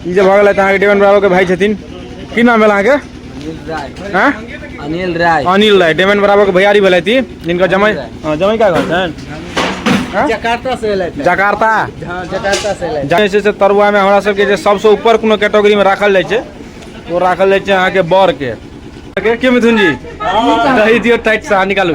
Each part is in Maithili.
ई जे भऽ गेलथि अहाँके डेवन ब्रावो के भाई छथिन की नाम भेल अहाँके हैं? अनिल राय अनिल राय डेवन ब्रावो के भैयारी भेलथि ई, जिनकर जमाई हाँ, जमाई का घर छनि जकार्ता से एलै जकार्ता हाँ जकार्ता से एलै जे छै से तरुआमे हमरा सबके जे सबसँ ऊपर कोनो कैटेगरीमे राखल जाइ छै ओ राखल जाइ छै अहाँके बरके के के मिथुन जी दही दियौ टाइट से अहाँ निकालू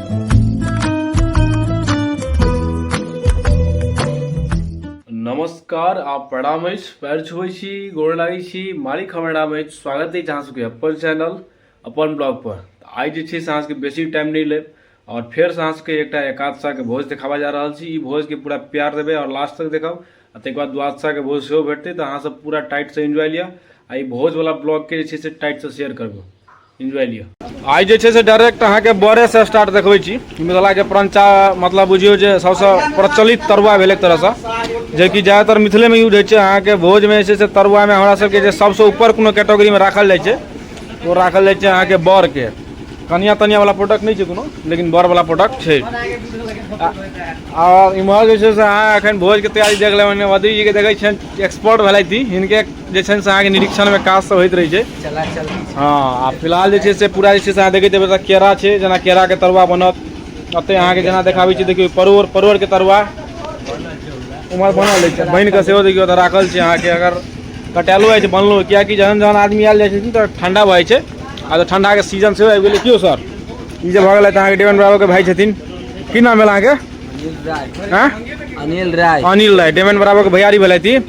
नमस्कार आप प्रणाम अछि पैर छुबै छी गोर लागै छी मारी खबर नाम अछि स्वागत अछि अहाँ सबके अपन चैनल अपन ब्लॉग पर तऽ आइ जे छै से अहाँ सबके बेसी टाइम नहि लेब आओर फेरसँ अहाँ सबके एकटा एकादशाके भोज देखाबऽ जा रहल छी ई भोजके पूरा प्यार देबै आओर लास्ट तक देखब आ ताहिके बाद द्वादशाके भोज सेहो भेटतै तऽ अहाँ सब पूरा टाइटसँ एन्जॉय लिअ आ ई भोजवला ब्लॉगके जे छै से टाइटसँ शेयर करबै इन्जॉय लिअ आइ जे छै से डायरेक्ट अहाँके बड़ेसँ स्टार्ट देखबै छी मिथिलाके परञ्चा मतलब बुझियौ जे सभसँ प्रचलित तरुआ भेल एक तरहसँ जेकि ज्यादातर मिथिलेमे यूज होइ छै अहाँके भोजमे जे छै से तरुआमे हमरा सभके जे सभसँ ऊपर कोनो कैटेगरीमे राखल जाइ छै ओ राखल जाइ छै अहाँके बड़के कनिया तनियावला प्रोडक्ट नहि छै कोनो लेकिन बड़वला प्रोडक्ट छै आओर इम्हर जे छै से अहाँ एखन भोजके तैयारी देख लेबै वधीजीके देखै छियनि एक्सपर्ट भेलथि हिनके जे छै से अहाँके निरीक्षणमे काज सब होइत रहै छै हँ आ फिलहाल जे छै से पूरा जे छै से अहाँ देखैत हेबै केरा छै जेना केराके तरुआ बनत एतय अहाँके जेना देखाबै छी देखियौ परोर परोरके तरुआ उमहर बनल अछि बनि कऽ सेहो देखियौ तऽ राखल छै अहाँके अगर कटायलो अछि बनलो कियाकि जहन जहन आदमी आयल जाइ छथिन तऽ ठंडा भऽ जाइ छै आ तऽ ठंडाके सीजन सेहो आबि गेलै कियो सर ई जे भऽ गेलै तऽ अहाँके डेवन बाबूके भाय छथिन की नाम भेल अहाँके अनिल राय अनिल राय डेवन बराबरके भैयारी भेलथि ई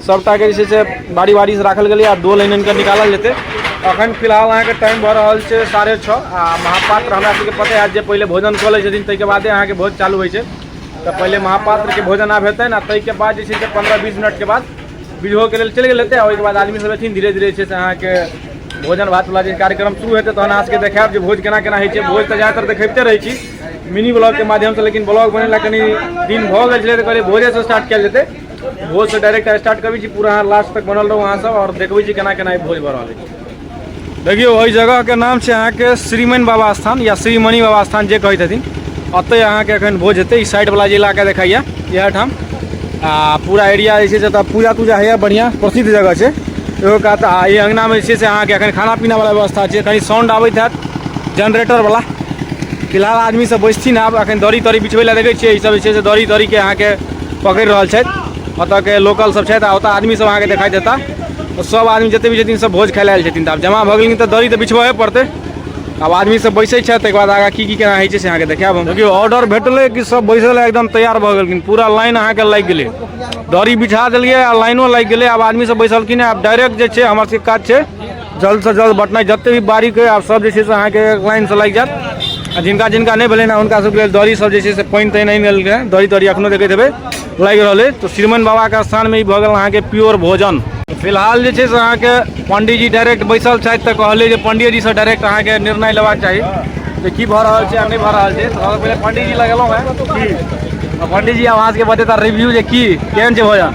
सभटा के जे छै से बारी बारी से राखल गेलै आ दो लाइन आनि कऽ निकालल जेतै अखन फिलहाल अहाँके टाइम भऽ रहल छै साढ़े छओ आ महापात्र हमरा सबके पते हैत जे पहिले भोजन कऽ लै छथिन ताहिके बादे अहाँके भोज चालू होइ छै तऽ पहिले महापात्रके भोजन आब हेतनि आ ताहिके बाद जे छै से पन्द्रह बीस मिनटके बाद बीजहोके लेल चलि गेल हेतै आ ओहिके बाद आदमी सब एथिन धीरे धीरे जे छै से अहाँके भोजन भात वाला जे कार्यक्रम शुरू हेतै तहन अहाँ सबके देखायब जे भोज केना केना होइ छै भोज तऽ ज्यादातर देखबिते रहै छी मिनी ब्लॉग के माध्यम से लेकिन ब्लॉग बनेला कनि दिन भऽ गेल छलै तऽ कहलियै भोजे से स्टार्ट कयल जेतै भोज से डायरेक्ट स्टार्ट करी छी पूरा अहाँ लास्ट तक बनल रहू अहाँ सब और देखबै छी केना केना ई भोज भऽ रहल अछि देखियौ एहि जगह के नाम छै अहाँके श्रीमन बाबा स्थान या श्रीमणि बाबा स्थान जे कहै छथिन ओतहि अहाँके एखन भोज हेतै ई साइड वाला जे इलाका देखाइए इएह ठाम आ पूरा एरिया जे छै से एतऽ पूजा तूजा होइए बढ़िआँ प्रसिद्ध जगह छै एगो कहत आ ई अङ्गनामे जे छै से अहाँके एखन खाना पीनावला व्यवस्था छै कनि साउंड आबैत हैत जनरेटरवला फिलहाल आदमी सब बैसथिन आब एखन दड़ी तड़ी बिछबै लए देखै छियै ई सब जे छै से दड़ी तड़ीके अहाँके पकड़ि रहल छथि ओतऽके लोकल सब छथि आ ओतऽ आदमी सब अहाँके देखाइ देता तऽ सब आदमी जते भी छथिन सब भोज खाइ लए आयल छथिन तऽ आब जमा भऽ गेलिन तऽ दड़ी तऽ बिछबहे पड़तै आब आदमी सब बैसै छथि ताहिके बाद आगाँ की की केना होइ छै से अहाँके देखायब हम देखिय ऑर्डर भेटलै कि सब बैसै लए एकदम तैयार भऽ गेलखिन पूरा लाइन अहाँके लागि गेलै दड़ी बिछा देलियै आ लाइनो लागि गेलै आब आदमी सब बैसलखिन आब डायरेक्ट जे छै हमर सबके काज छै जल्द से जल्द बटना जते भी बारी के आप सब जैसे अहाँ के लाइन से लग जात जिनका जिनका नहीं भेल ना उनका सबके दौरी सब जैसे से पानि तानि नहीं मिल गए दौरी तौरी अखनो देखते थे लग रहा है तो श्रीमन बाबा के स्थान में भगल अहाँ के प्योर भोजन फिलहाल जैसे अहाँ के पंडित जी डायरेक्ट बैसल छथि तो कहले जो पंडित जी से डायरेक्ट अहाँ के निर्णय लेबाक चाहिए जे की भऽ रहल छै आ नहि भऽ रहल छै तऽ सबसँ पहिले पंडित जी लगेलहुँ हँ पंडित जी आब अहाँ सबके बतेता रिव्यू जे की केहन छै भोजन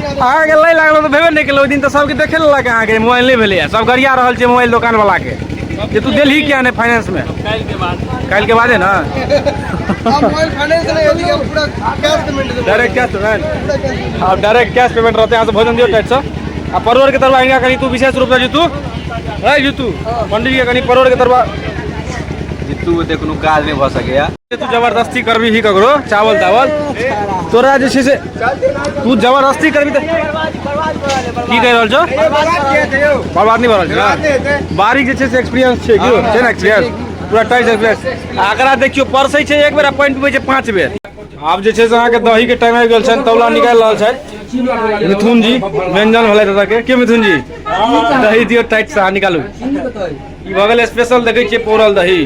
अहाँके लै लागल तऽ भेबे नहि केलक ओहि दिन तऽ सबके देखे लेलक अहाँके मोबाइल नहि भेलैए सब गरिया रहल छै मोबाइल दोकानवलाके जे तू देलही किया नहि फाइनेंसमे काल्हिके बादे ने डायरेक्ट कैश पेमेंट आब डायरेक्ट कैश पेमेंट रहतै अहाँसँ भोजन दियौ टाइटसँ आ परोरके तरुआ हिनका कनि तू विशेष रूपसँ जीतू है जीतू पंडितजीके कनि परोरके तरुआ जीतू ओते कोनो काज नहि भऽ सकैए तू जबरदस्ती करबी ही ककरो चावल तावल तोरा जे छै से तू जबरदस्ती करबी तऽ की कहि रहल छौ बर्बाद नहि भऽ रहल छै बारीक जे छै से एक्सपीरियंस छै कि छै ने एक्सपीरियंस पूरा टाइट एक्सपीरियंस आकरा देखियो परसै छै एक बेर आ पानि पीबै छै पाँच बेर आब जे छै से अहाँके दहीके टाइम आबि गेल छनि तौला निकालि रहल छथि मिथुन जी व्यंजन भेलै दादाके के मिथुन जी दही दियौ टाइट से अहाँ निकालू ई भऽ गेल स्पेशल देखै छियै पौरल दही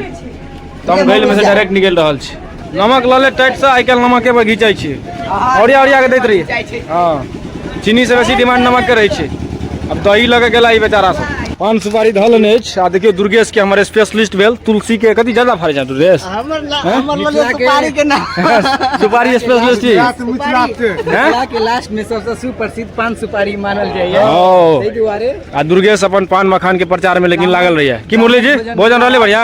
तम गैल में से डायरेक्ट निकल रहल छी नमक लऽ ले टाइट से आइ काल्हि नमके पर घिचै छी ओरिया ओरिया के दैत रही हँ चीनी से बेसी डिमांड नमक के रहै छै अब दही लऽ के गेला ई बेचारा सब पान सुपारी धऽ लेने अछि आ देखियौ दुर्गेश के हमर स्पेशलिस्ट भेल तुलसी के कथी ज्यादा फड़ै छै दुर्गेश हमर ला- हैं? हमर लगे सुपारी के नाम सुपारी स्पेशलिस्ट छी हैं? के लास्ट में सबसे सुप्रसिद्ध पान सुपारी मानल जाइए ओ ताहि दुआरे आ दुर्गेश अपन पान मखान के प्रचार में लेकिन लागल रहिए की मुरली जी भोजन रहले बढ़िया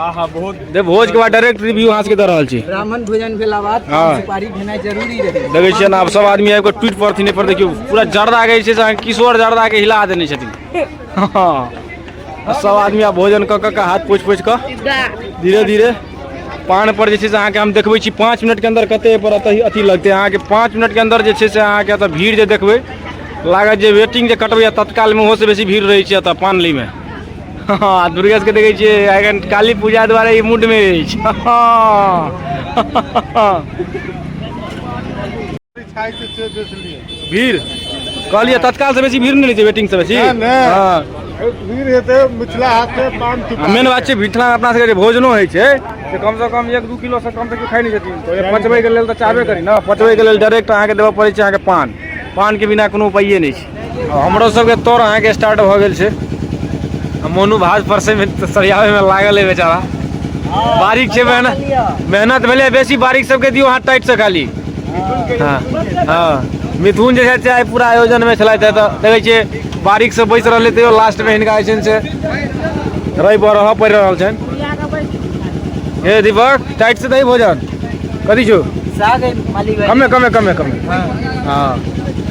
आहा बहुत दे भोज के बाद डायरेक्ट रिव्यू अहाँ सबके दऽ रहल छी ब्राह्मण भोजन भेला बाद हाँ। पान सुपारी भेनाइ जरूरी रहै देखै छियै ने आब सब आदमी आबि कऽ ट्वीट पड़थिन एहि पर देखियौ पूरा जर्दा के जे छै से अहाँके किशोर जर्दा के हिला देने छथिन हँ। आ सब आदमी आब भोजन कऽ कऽ के हाथ पोछि पोछि कऽ धीरे धीरे पान पर जे छै से अहाँके हम देखबै छी पाँच मिनटके अंदर कते पर अतः अथी लगतै अहाँके पाँच मिनटके अंदर जे छै से अहाँके एतऽ भीड़ जे देखबै लागत जे वेटिंग जे कटबै तत्कालमे ओहोसँ बेसी भीड़ रहै छै एतऽ पान लैमे हँ दुर्गेशके देखै छियै एखन काली पूजा दुआरे ई मूडमे अछि हँ भीड़ कहलियै तत्काल से बेसी भीड़ नहि रहै छै वेटिंग से बेसी हँ भीड़ हेतै मिथिला हाट से पान मेन बात छै मिथिला अपना सबके जे भोजनो होइ छै से कम से कम एक दू किलो से कम से केओ खाइ नहि छथिन तऽ ओहे पचबैके लेल तऽ चाहबे करी ने पचबैके लेल डायरेक्ट अहाँके देबऽ पड़ै छै अहाँके पान पानके बिना कोनो उपाइए नहि छै हमरो सबके तोड़ अहाँके स्टार्ट भऽ गेल छै मोनू भाज परसैमे सरियाबैमे लागल है बेचारा बारीक छै मेहनत मेहनत भेलै बेसी बारीक सबके दियौ अहाँ टाइटसँ खाली हँ हँ मिथुन जे छथि आइ पूरा आयोजनमे छलथि है तऽ देखै छियै बारीकसँ बैसि रहलै तैयो लास्टमे हिनका जे छनि से रहि बरहऽ पड़ि रहल छनि हे दीपक टाइट से दही भोजन कथी छौ साग है मालिक भाई कमे कमे कमे कमे हाँ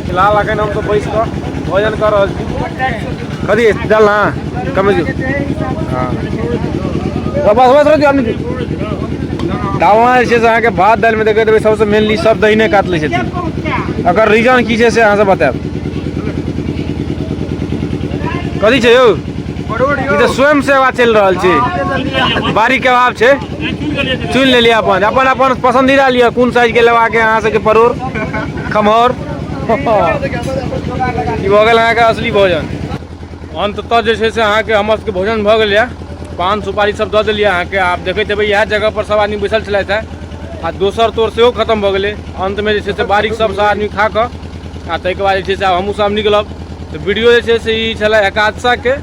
फिलहाल अखन हम तो बैस कऽ भोजन कर रहल छी कथी है? डाल ना कमे छौ हाँ बस बस रह आदमी डालना जे छै से अहाँके भात दालिमे देखैत हेबै सबसँ मेनली सब दहिने काट लै छथिन एकर रीजन की छै से अहाँसँ बतायब कथी छै यौ ई तऽ स्वयं सेवा चलि रहल छै बारीके अभाव छै चुनि लेलियै अपन अपन अपन पसन्दीदा लिअ कोन साइजके लेबाक यऽ अहाँ सबके परोर खमहर ई भऽ गेल अहाँके असली भोजन अन्ततः जे छै से अहाँके हमर सबके भोजन भऽ गेल यऽ पान सुपारी सब दऽ देलियै अहाँके आब देखैत हेबै इएह जगह पर सब आदमी बैसल छलथि है आ दोसर तोर सेहो खतम भऽ गेलै अन्तमे जे छै से बारीक सब सब आदमी खा कऽ आ ताहिके बाद जे छै से आब हमहूँ सब निकलब तऽ वीडियो जे छै से ई छलै एकादशाके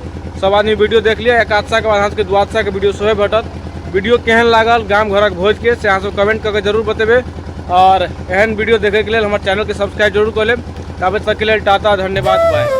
सब आदमी वीडियो देख लिअ एकादशाके बाद अहाँ सबके द्वादशाके वीडियो सेहो भेटत वीडियो केहन लागल गाम घरक भोजके से अहाँसभ कमेंट कऽ के जरूर बतेबै आओर एहन वीडियो देखैके लेल हमर चैनलके सब्सक्राइब जरूर कऽ लेब ताबे तकके लेल टाटा धन्यवाद बाय